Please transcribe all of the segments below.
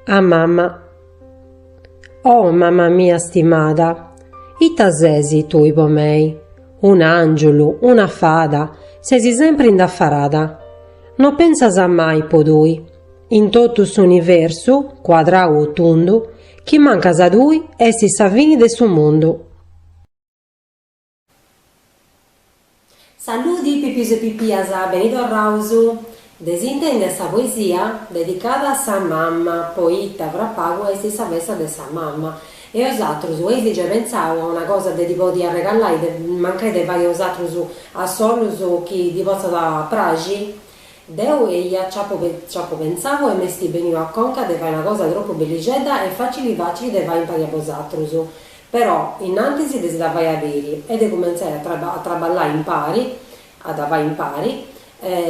A mamma Oh mamma mia stimada, ita sesi tui po mei, un'àngiulu, una fada, sesi sempri indafarada. No pensas mai po tui, in totu s'universu, cuadrau o tundu, chi mancas tui est sa fini de su mundu. Saludi pipius e pipias, beni torraus! Dd'eis intèndia sa poesia dedicada a sa mamma, poita fra pagu est sa festa de sa mamma. E bosatrus eis giai pentzau a una cosa de ddi podi arregallai mancai de fai bosatrus a solus chi ddi potzat praxi? Deu eia nc'apu pentzau e m'est beniu a conca de fai una cosa tropu bellixedda e facili facili de fai impari a bosatrus. Però, innantis de si dda fai a biri e de cumentzai a traballai impari, a dda fai impari,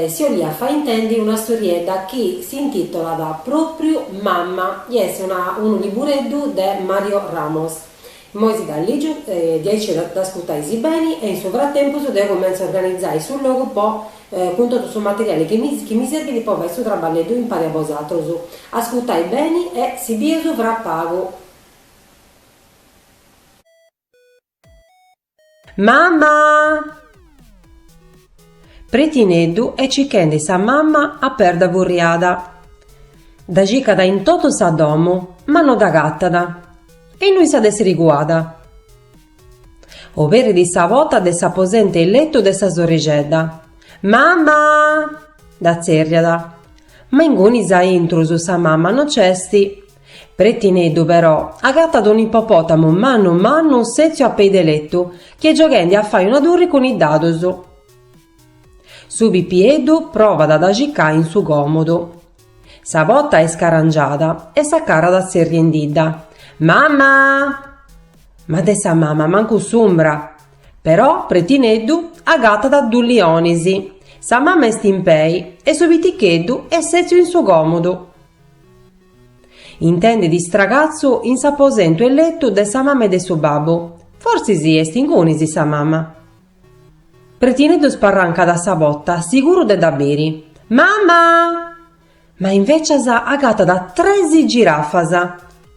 si 'olia fai intendi una storiedda chi s'intitolat pròpriu Mamma chi est unu libureddu de Mario Ramos. Immoi si dda lìgiu, diaici dd'ascurtais beni e in su fratempus deu cumentzu a organizai su logu po cun totu su materiali chi mi serbit po fai su traballeddu impari a bosatrus. Ascurtai beni e si bieus fra pagu. Mamma! Pretineddu est cichendi sa mamma a perda furriada. Dda cicat in totu sa domu ma no dd'agatat. E innui s'at èssiri cuada? Oberit sa pota de s'aposentu 'e letu de sa sorrixedda. Mamma! dda tzerriat. Ma ingunis a intrus sa mamma no nc'est. Pretineddu, però, agatat un'ippopotamu mannu mannu sètziu a pei de letu, chi est gioghendi a fai una turri cun is dadus. Su pipieddu provat a dda cicai in su còmodu. Sa pota est scarangiada e s'acarat tzerriendidda, Mama! Ma de sa mama mancu s'umbra! Però Pretineddu agatat duus lionis, sa mama est in pei e su piticheddu est sètziu in su còmodu. Intendit stragatzu in s'aposentu 'e letu de sa mama e de su babbu, fortzis est ingunis sa mama. Pretineddu sparrancat sa pota, siguru de dda biri, Mama! Ma invècias agatat tres girafas,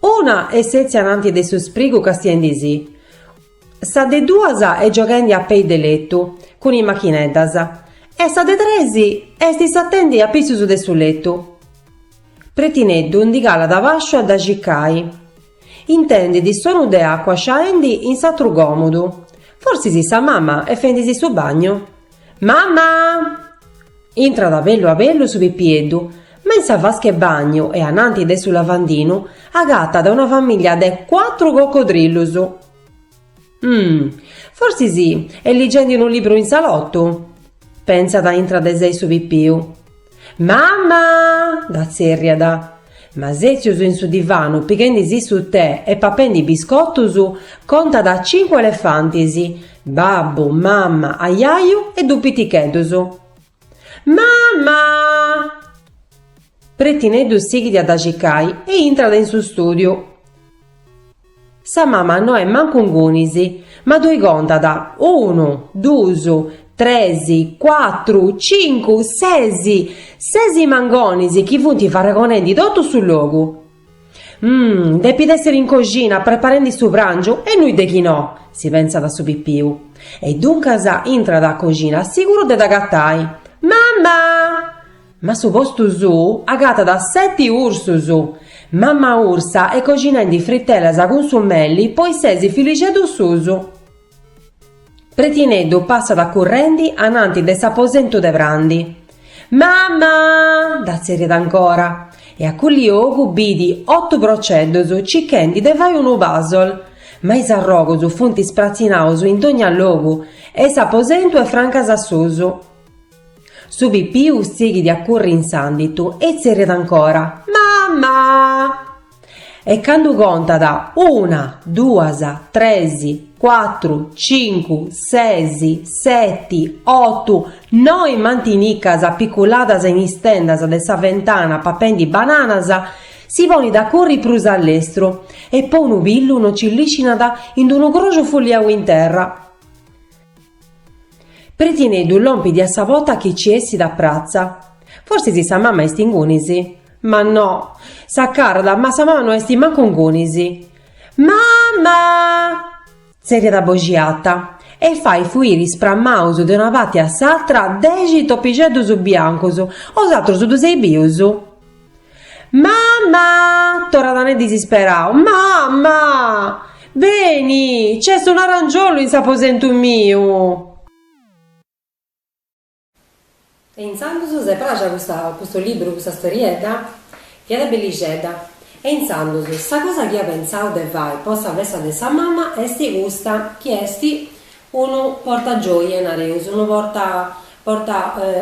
una est sètzia ananti de su sprigu castiendisì, Sa de duas est gioghendi a pei de letu, cun is machineddas, e sa de tres est satendi apitzus de su letu. Pretineddu ndi calat abasciu a dda cicai. Intendit sonu de acua sciaendi in s'atru còmudu, forsis sa mama est fendisì su bagnu. Mamma! Intrat a bellu a bellu su pipieddu, ma in sa vasca 'e bagnu e ananti de su lavandinu agatat una famiglia de cuatru cocodrillus. Umm! Forsis est ligendi unu libru in salottu? Pentzat intra de sei su pipiu. Mamma! dda tzerriat. Ma sètzius in su divanu pighendi-si su tè e papendi biscotus, contat cincu elefantis, babbu, mamma, ajaju e duus piticheddus. Mamma! Pretineddu sighit a dda cicai e intrat in su stùdiu. Sa mama no est mancu ingunis, ma ddoi contat, unu, duus, tres, cuatru, cincu, ses, ses mangonis chi funt farragonendi totu su logu. Mmm, depit èssiri in coxina preparendi su pràngiu e nui de chi no? si pentzat su pipiu. E duncas intrat a coxina siguru de dd'agatai. Mama! Ma a su postu suu agatat seti ursus. Mamma ursa est coxinendi fritelas cun su meli po is ses fillixeddus suus. Pretineddu passat currendi ananti de s'aposentu de prandi. Mamma! dda zerriat ancora. E a cu' 'e ogu bit otu proceddus cichendi de fai unu puzzle. Ma is arrogus funt ispratzinaus in dogna logu e s'aposentu est francas a susu. Su pipiu sighit a curri in s'ànditu e tzerriat ancora, Mamma! E candu contat, Una, duas, tres, cuatru, cincu, ses, seti, otu, noi mantinicas apiculadas in is tendas de sa ventana papendi bananas, si ponit a curri prus a lestru e po unu pillu no nci liscinat in d-unu croxu fulliau in terra. Pretineddu lompit a sa porta chi ci essit a pratza. Forsis sa mama est ingunis. Ma no. S'acarrat, ma sa mama no est mancu ingunis. Mamma! tzerriat a boxi arta, e fait fuiri sprammaus de una parti a s'atra dexi topixeddus biancus, bosatrus ddus eis bius. Mama! torrat a nai disisperau, mama! Beni, c'est un arangiollu in s'aposentu miu! E intzandus si est pràxia custa, custu libru, custa storiedda? Fiat bellixedda. E intzandus, sa cosa chi ia pentzau de fai po sa festa de sa mama est custa, chi est, Unu porta gioie, nareus, unu porta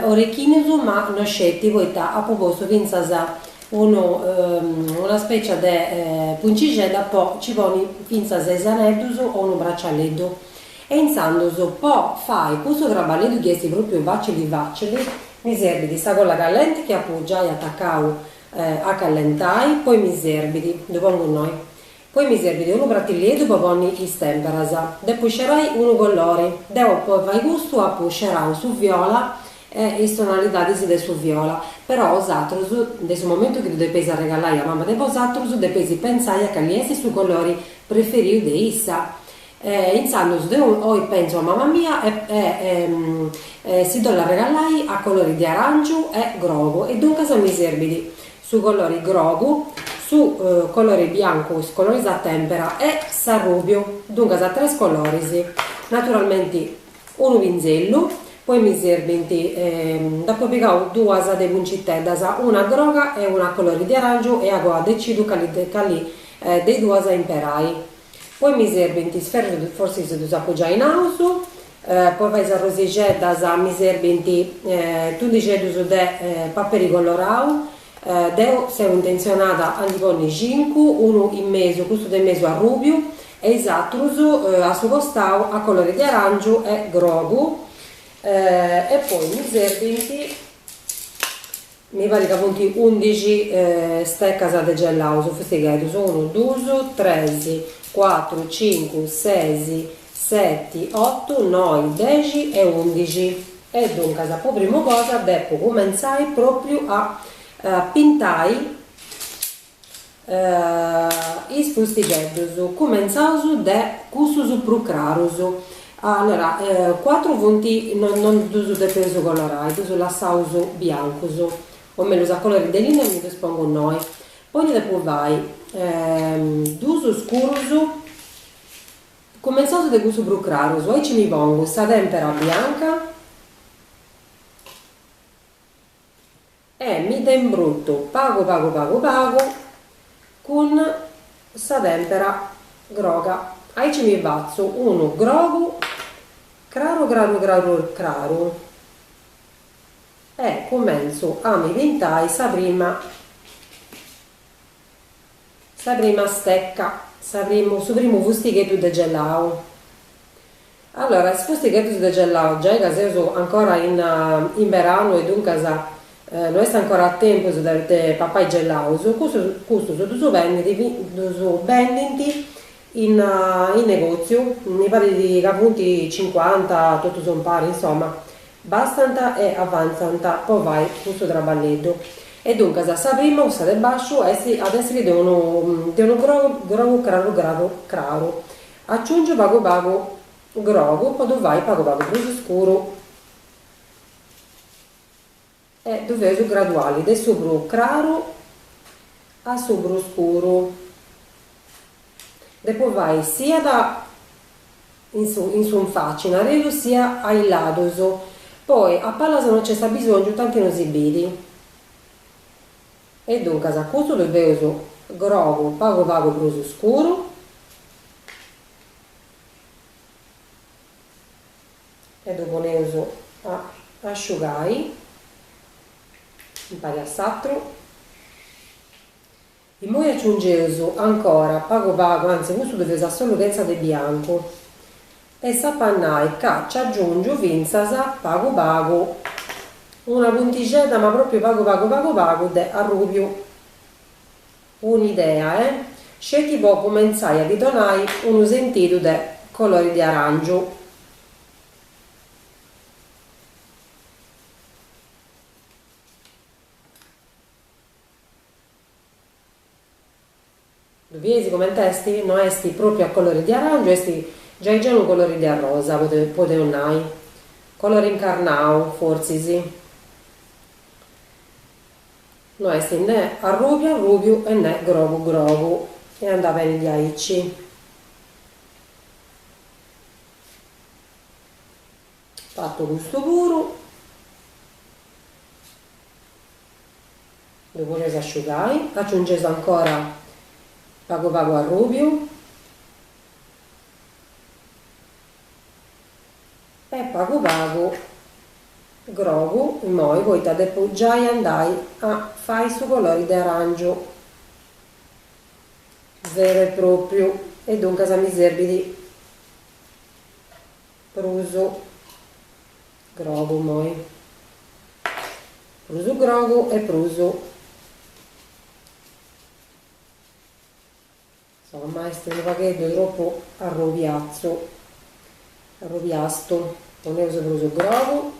orechinus ma no sceti poita apu postu fintzas unu una specia de puncixedda po ci poni fintzas is aneddus o unu bracialeddu e intzandus po fai cussu traballeddu chi esti propriu facili facili mi serbit sa colla callenti chi apu giai atacau a callentai poi mi serbit ddu pongu innoi Poi mi serbit unu pratillieddu po ponni is temperas. Depu scerai unu collori. Deu po fai custu apu scerau su viola e is tonalidadis de su viola. Però bosatrus, de su momentu chi ddu depeis arregalai a mama de bosatrus, depeis pentzai a cali est su collori preferiu de issa. E intzandus deu pentzu a mama mia si ddu ollu arregalai a colori de arangiu e grogu e duncas mi serbit. su colore grogu, su colore biancu is coloris a tempera e s'arrubiu, duncas tres coloris, naturalmenti unu pinzellu, poi mi serbint, nd'apo pigau duas de punciteddas, una groga e una colore de arangiu e agoa decidu cali de is duas imperai, poi mi serbint is ferrus forsis ddus apu giai naus Po fai is arrosixeddas mi serbint tundixeddus de paperi colorau. Deu seu intentzionada a ndi ponni cincu, unu in mesu, custu de in mesu arrubiu e is atrus a su costau a colori de arangiu e grogu. E poi mi serbint Mi parit ca funt undixi stecas de gellau, is fustigheddus, unu, duus, tres, cuatru, cincu, ses, seti, otu, noi, dexi e undixi. E duncas, po primu cosa, depu cumentzai pròpriu a pintai. is fustigheddus, cumentzaus de cussus prus crarus, allora cuatru funt non ddus depeus colorai, ddus lassaus biancus, o mellus a colori de linna e mi ddus pongu innoi, poi ndi depu fai duus scurus, cumentzaus de cussus prus crarus, aici mi pongu sa tempera bianca E mi dda imbrutu pagu pagu pagu pagu cun sa tèmpera groga. Aici mi fatzu unu grogu craru craru craru craru e cumentzu a mi pintai sa prima. Sa prima stecca, sa primu, su primu fustigheddu de gelau. Allora is fustigheddus de gelau giai ca seus ancora in in beranu e duncas no est ancora a tempus de de papai gelaus, custus ddus bendint in in negoziu, mi parit ca funt cincuanta totus impari, insoma Bastant e avantzant po fai custu traballeddu. E duncas sa prima, cussa de basciu, at a essiri de unu de unu grogu grogu craru craru craru. Aciungiu pagu pagu grogu po ddu fai pagu pagu prus scuru. E ddu feus graduali, de su prus craru a su prus scuru. Depu fai siat in su in faci nareus sia a is ladus, poi a palas no nc'est abisòngiu tanti no si bit. E duncas a custu ddu feus grogu pagu pagu prus scuru. e ddu poneus a asciugai impari a s'atru. Immoi aciungeus ancora pagu pagu, anzi custu ddu feus a solu chentza de biancu e si ap'a nai ca nci aciungiu fintzas pagu pagu una puntixedda ma propriu pagu pagu pagu pagu de arrubiu. Un'idea, eh? Sceti po cumentzai a ddi donai unu sentidu de colori de aràngiu. Ddu bieis comente esti? No esti pròpriu a colori de aràngiu, esti giai giai unu colori de arrosa, podeus nai. Colori incarnau, fortzis. No est nè arrùbiu arrùbiu e nè grogu grogu. E andat bene diaici. Fatu custu puru. Ddu poneis a asciugai. Aciungeis ancora pagu pagu arrùbiu. E pagu pagu grogu immoi poita depu giai andai a fai su colori de arangiu veru e propriu e duncas mi serbit prus grogu immoi prus grogu e prus Insomma est unu pagheddu tropu arrubiatzu, arrubiastu, poneus prus grogu.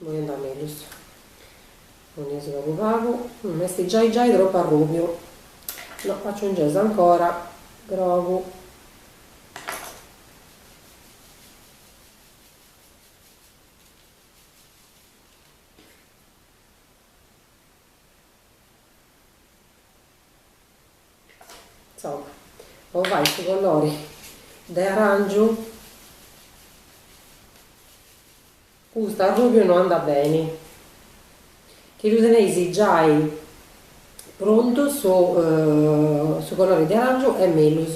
Imoi andat mellus. Poneus pagu pagu. Est giai giai tropu arrubiu. No, aciungeus ancora grogu. Po fai su colori de arangiu custu arrubiu no andat beni chi ddu teneis giai prontu su su colori de arangiu est mellus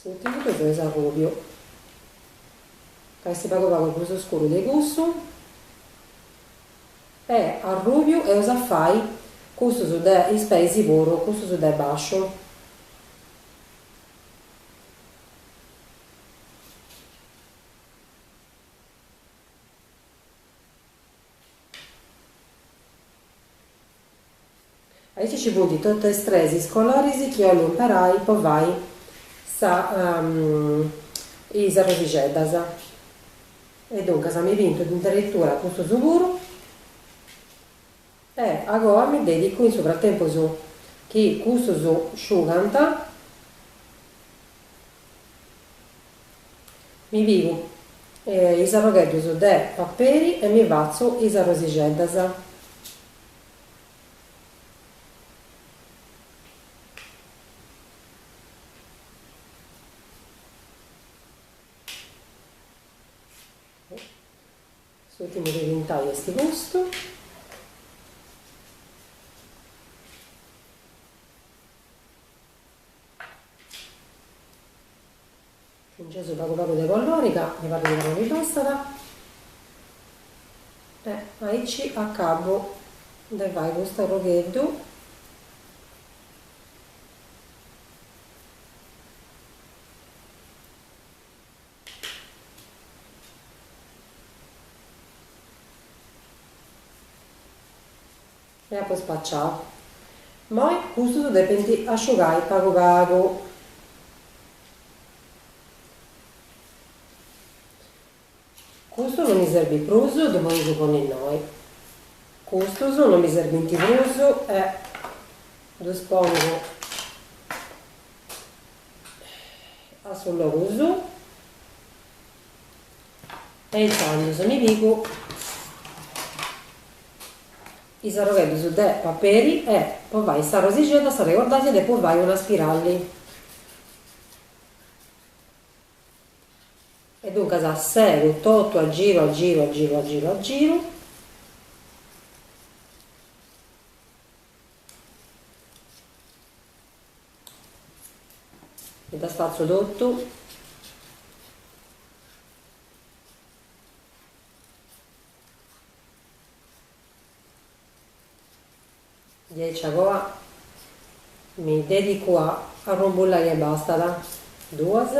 S'ùrtimu ddu feus arrubiu ca est pagu pagu prus scuru de cussu e arrubiu eus a fai cussus de is peis puru custus de bàsciu Aici ci funt totu is tres coloris chi 'ollu imperai po fai sa is arrosixeddas e duncas mi pintu addirittura custus puru e agoa mi dedicu in su fratempus chi custus sciugant Mi pigu is arrogheddus de paperi e mi fatzu is arrosixeddas. S'ùrtimu de pintai est custu. Aciungeus pagu pagu de colori ca mi parrit chi no mi bastat e aici acabu de fai custu arrogheddu E apo spaciau. Immoi custus depint asciugai pagu pagu. Custu no mi serbit prus, ddu podeus ponni innoi. Custus no mi serbint prus e ddus pongu a su logu suu. E intzandus mi pigu is arrogheddus de paperi e, po fai sa rosixedda, s'arregordais depu fai una spiralli. E duncas segu totu a giru a giru a giru a giru a giru. Mi dda spatzo totu. Diaici a goa mi dedicu a arrumbullai e bastat. Duas.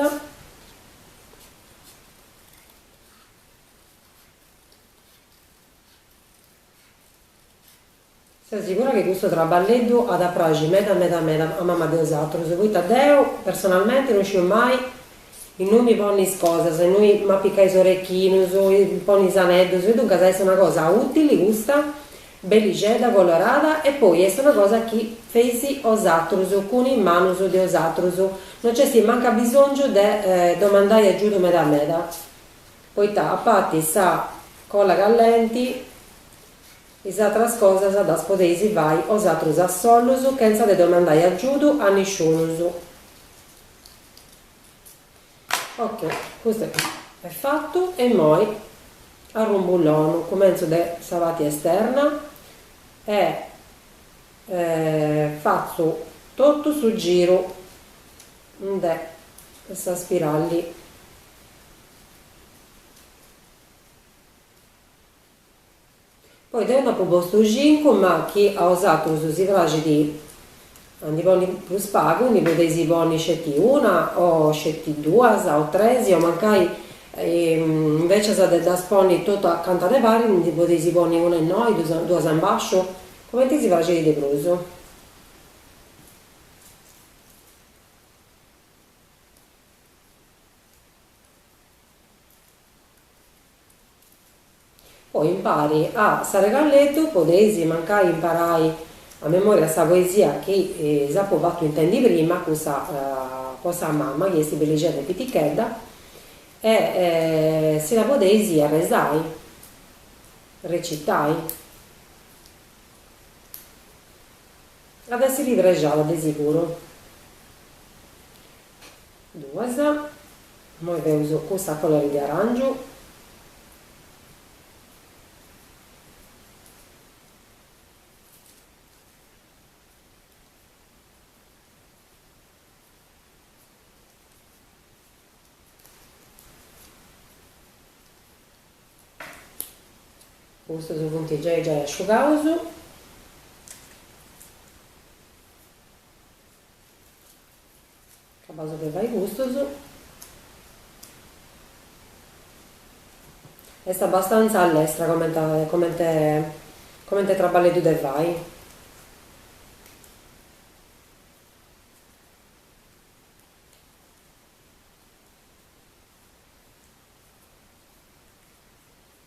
Seu sigura chi custu traballeddu at a praxi meda meda meda a mama de osatrus? Poita deu, personalmenti, no sciu mai innui mi ponni is cosas, innui m'apicai is orechinus, ponni is aneddus e duncas est una cosa utili custa, bellixedda, colorada e poi est una cosa chi feis osatrus, cun is manus de osatrus, no nc'est mancu abisongiu de domandai agiudu meda meda, poita a parti sa colla callenti. Is atras cosas ddas podeis fai osatrus a sollus chentza de domandai agiudu a nisciunus. Ok, custu est fatu e immoi arrumbullonu, cumentzu de sa parti esterna e fatzu totu su giru de sa spiralli. Poi deu nd'apu postu cincu, ma chi a osatrus si praxit a ndi ponni prus pagu, ndi podeis ponni sceti una o sceti duas o tres o mancai invecias de ddas ponni totu acanta de paris ndi podeis ponni una innoi, duas a imbasciu, cumenti si praxit de prus. Poi impari a s'arregalletu podeis mancai imparai a memoria sa poesia chi s'apu fatu intendi prima, cussa po sa mama chi est bellixedda e pitichedda e si la podeis arresai, recitai. At a essiri prexada de siguru. Duas, Immoi feus cussa colori de arangiu. Custus funt giai giai asciugaus. Acabaus de fai custus. Est abastanza allestra comente comente comente traballeddu de fai.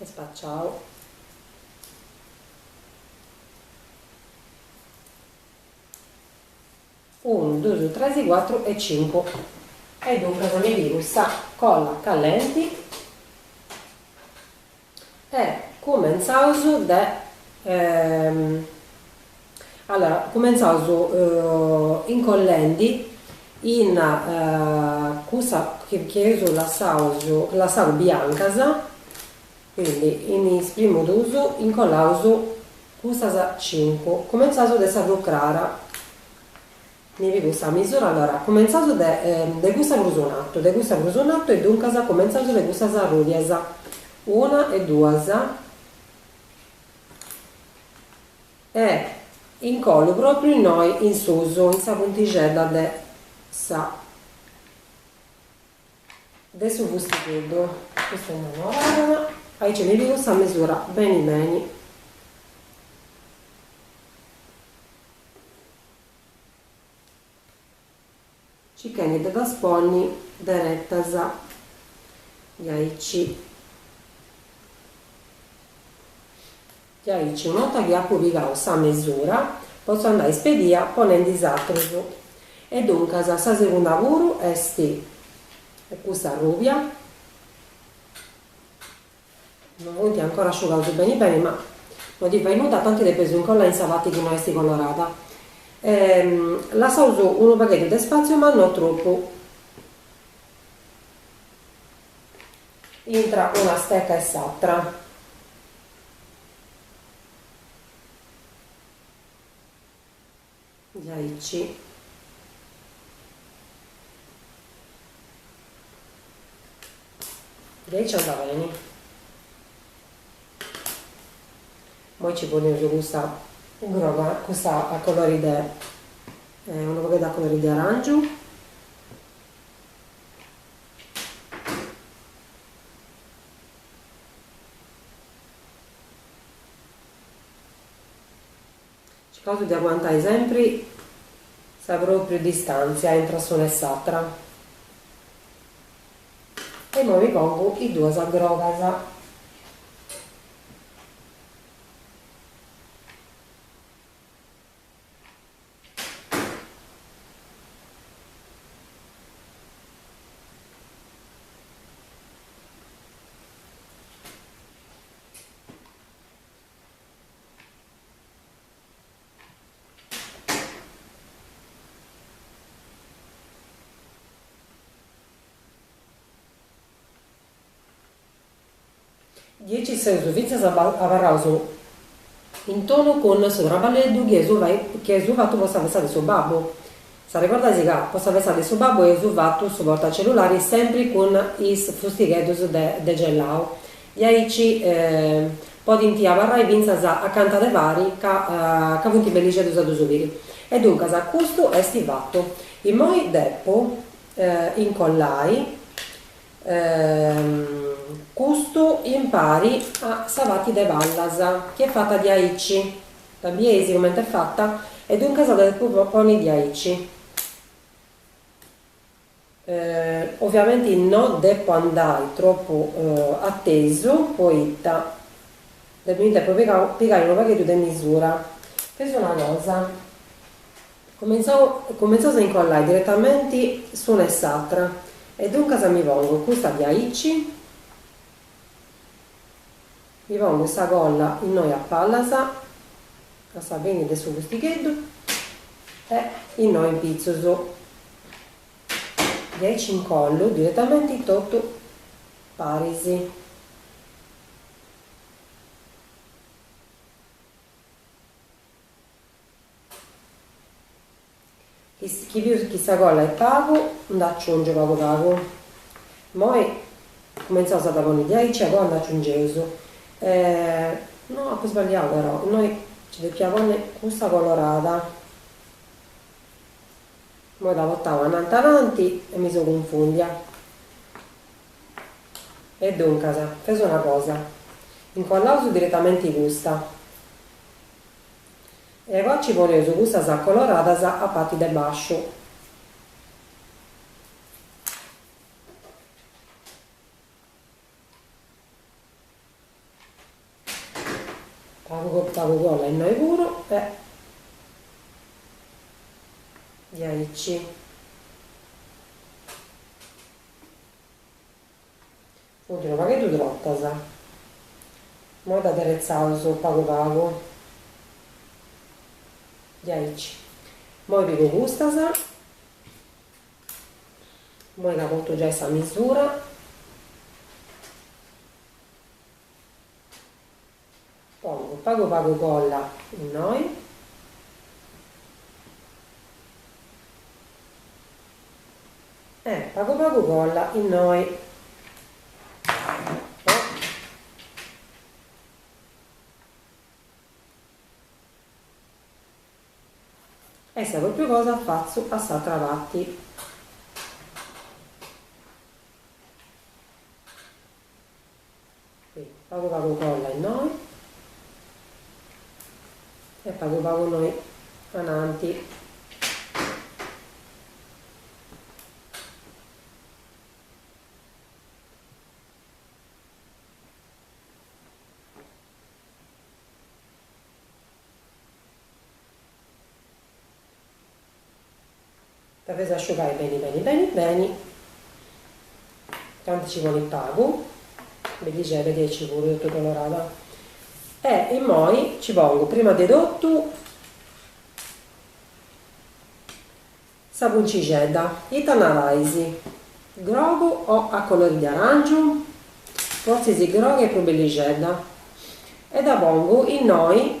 e spaciau unu dusu tresi cuatru e cincu e duncas mi pigu sa colla callenti E cumentzaus de allora cumentzaus incollendi in cussa chi chi eus lassaus lassau biancas, quindi in is primus dus incollaus cussas cincu, cumentzaus de sa prus crara Mi pigu sa misura, allora, cumentzaus de de cussa prus in artu, de cussa prus in artu e duncas cumentzaus de cussas arrùbias, una e duas e incollu pròpriu innoi in susu, in sa puntixedda de sa de su fustigheddu, custa innoi no abarrat, aici mi pigu sa misura beni beni Circhendi de ddas ponni derettas diaici. Diaici, una 'orta chi apu pigau sa mesura, potzu andai ispedia ponendi is atrus. E duncas sa segunda puru est custa arrubia. No funti ancora asciugaus beni beni, ma no ti fait nudda, tanti depes ddus incollai in sa parti chi no est colorada. Lassaus unu pagheddu de spàtziu ma no tropu. Intra una steca e s'atra. Diaici diaici andat beni. Imoi ci poneus custa groga, custa a colori de unu pagheddu a colori de arangiu Cicaus de aguantai sempri sa pròpriu distàntzia intra s'una e s'atra. E imoi mi pongu is duas grogas. Diaici seus fintzas abarraus in tonu cun su traballeddu chi eus fatu po sa festa de su babbu. S'arregordais ca po sa festa de su babbu eus fatu su portacellulari sempri cun is frustigheddus de gelau, diaici podint abarrai fintzas acanta de pari ca ca funt bellixeddus a ddus biri. E duncas custu est fatu. Immoi depu incollai custu impari a sa parti de pallas chi est fata diaici. Dda bieis comente est fata e duncas dda depu poni diaici. Oviamenti no depu andai tropu a tesu poita depit mi depu pigai unu pagheddu de misura. Feus una cosa, cumintzau cumintzaus a incollai diretamenti s'una e s'atra e duncas mi pongu custa diaici, Mi pongu sa colla innoi a pallas a sa fini de su fustigheddu e innoi in pitzus diaici incollu diretamenti totu paris. Chi piticu sa colla est pagu nd'aciungio pagu pagu. Immoi cumentzaus a dda ponni diaici agoa nd'aciungeus no apu sballiau però, innoi nci depiat ponni custa colorada. Immoi dda potau ananti ananti e mi seu cunfundia. E duncas, fadeus una cosa, incollaus diretamenti custa E agoa ci poneus cussas coloradas a pati de basciu. Pagu pagu colla innoi puru e diaici. Funti unu pagheddu trotas. Moi ddas aderetzaus pagu pagu. Diaici. Moi pigu custas. Moi ca portu giai sa misura. Pongu pagu pagu colla innoi. E pagu pagu colla innoi. E sa propriu cosa fatzu a s'atra parti. Pagu pagu colla innoi e pagu pagu innoi ananti. Depit asciugai beni beni beni beni, tanti nci bolit pagu, bellixedda diaici puru totu colorada, e immoi nci pongu prima de totu sa puntixedda, ita narais, grogu o a colori de aràngiu? Fortzis groga est prus bellixedda, e dda pongu innoi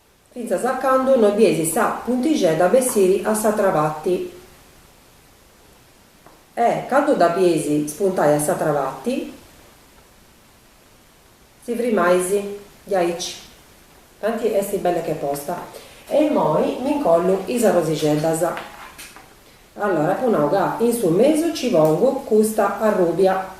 fintzas a candu no bieisi sa puntixedda a bessiri a s'atra pati e, candu dda bieisi spuntai a s'atra pati, si frimaisi diaici, tanti esti belle che posta. E immoi mi ncollu is arrosixeddas. Allora apu nau ca in su mesu ci pongu custa arrubia.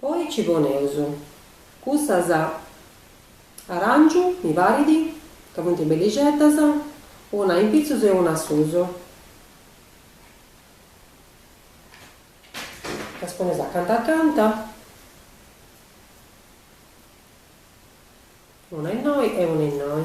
Poi nci poneus cussas aràngiu, mi parit, ca funt bellixeddas, una in pitzus e una a susu, ddas poneus acanta acanta, una innoi e una innoi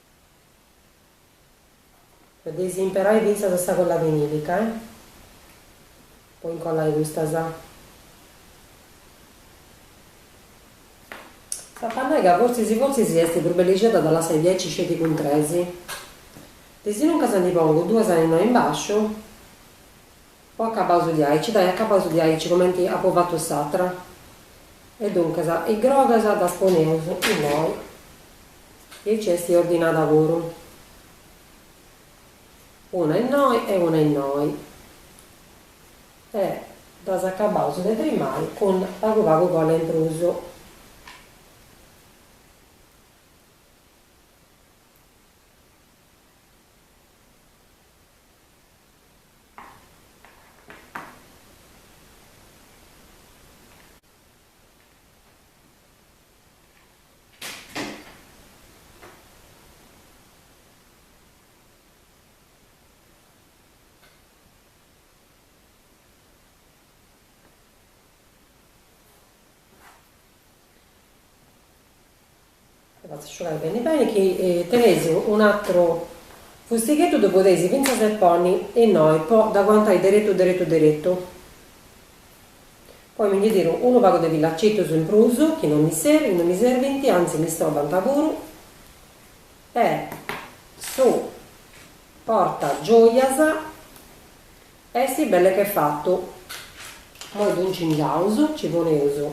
Podeis imperai fintzas sa colla vinilica, eh. Po incollai custas. S'ap'a nai ca fortzis fortzis est prus bellixedda de lassai diaici sceti cun tres. Desinuncas ndi pongu duas innoi in basciu, o acabaus diaici, dai acabaus diaici comenti apu fatu s'atra. E duncas, is grogas ddas poneus innoi. E aici est ordinada puru. Una innoi e una innoi. E ddas acabaus de frimai cun pagu pagu colla in prus. Dda fatzu sciugai beni beni chi teneis un'atru fustigheddu ddu podeis fintzas ponni innoi po dda aguantai deretu deretu deretu. Poi mi ndi tiru unu pagu de filacetus in prus, chi non mi serbint, non mi serbint, anzi mi istrobant puru, e su porta gioias est belle che fatu. Moi ddu incingiaus, nci poneus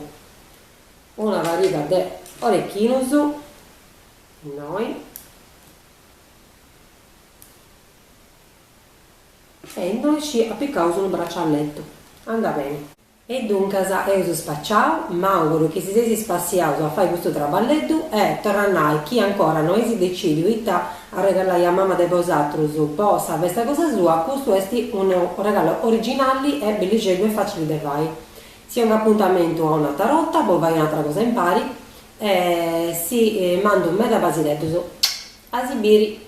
una pariga de orechinus, innoi, E innoi nci apicaus unu bracialletu. Anda beni. E duncas eus spaciau, m'àuguru chi si seis spassiaus a fai custu traballeddu e, torru a nai chi ancora no eis decìdiu ita arregalai a mama de bosatrus po sa festa cosa sua, custu est unu regalu originali e bellixeddu e facili de fai. Si ongu apuntamentu a un'atra borta po fai un'atra cosa impari e si mandu meda basireddus. A si biri.